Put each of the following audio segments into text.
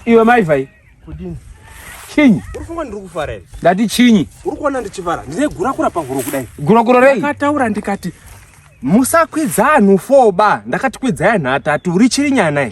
iwe maivai kudini chinyi uri funga ndiri kufara here ndati chinyi uri kuona ndichifara ndine gurakura pahuro kudai gurakura rei akataura ndikati musakwidza anhu foba ndakati kwidzai anhu atatu uri chiri nyana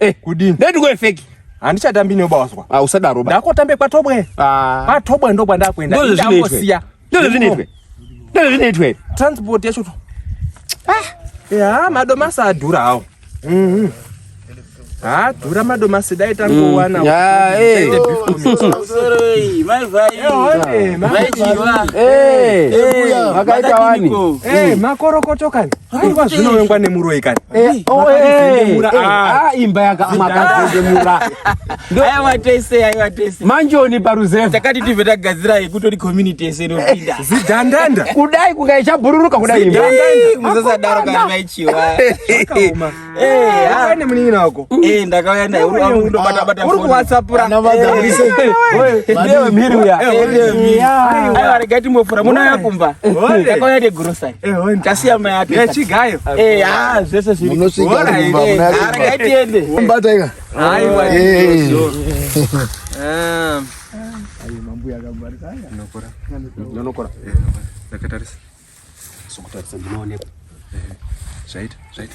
Eh, kudini? Ndati kwe fake. Handichatambi newe bawazwa. Ah, usadaro ba. Ndakotambe kwa Tobwe. Ah. Kwa Tobwe ndo kwanda kuenda. Ndo zvinoitwe. Ndo zvinoitwe. Ndo zvinoitwe. Transport yacho. Ah. Ya, madomasa adhura hawo. Mhm. Mm ha dhura madomasi dai tangowana makorokoto kani Nguva zvino wengwa nemuroyi kani. Eh, oh, eh, eh, ah. ah, imba yaka makazendemura. Aya watese, aya watese. Manjoni paruzeva. Takati tive tagadzira yekutori community yese inopinda. Zidhandanda. Kudai kukaicha bururuka kudai imba. Zidhandanda. Musasadaro kana maichiwa. Akaoma. nemunin'ina wako ndakauya naye urikuwatsappuraarega timbofura muna yakumba ndakauya negrosari tasiya mai akechigayo zvese zvirarega tiende mambuya akangwarisa nokora nokora ndakatarisa sokutarisa ndinoonekwa zvaita zvaita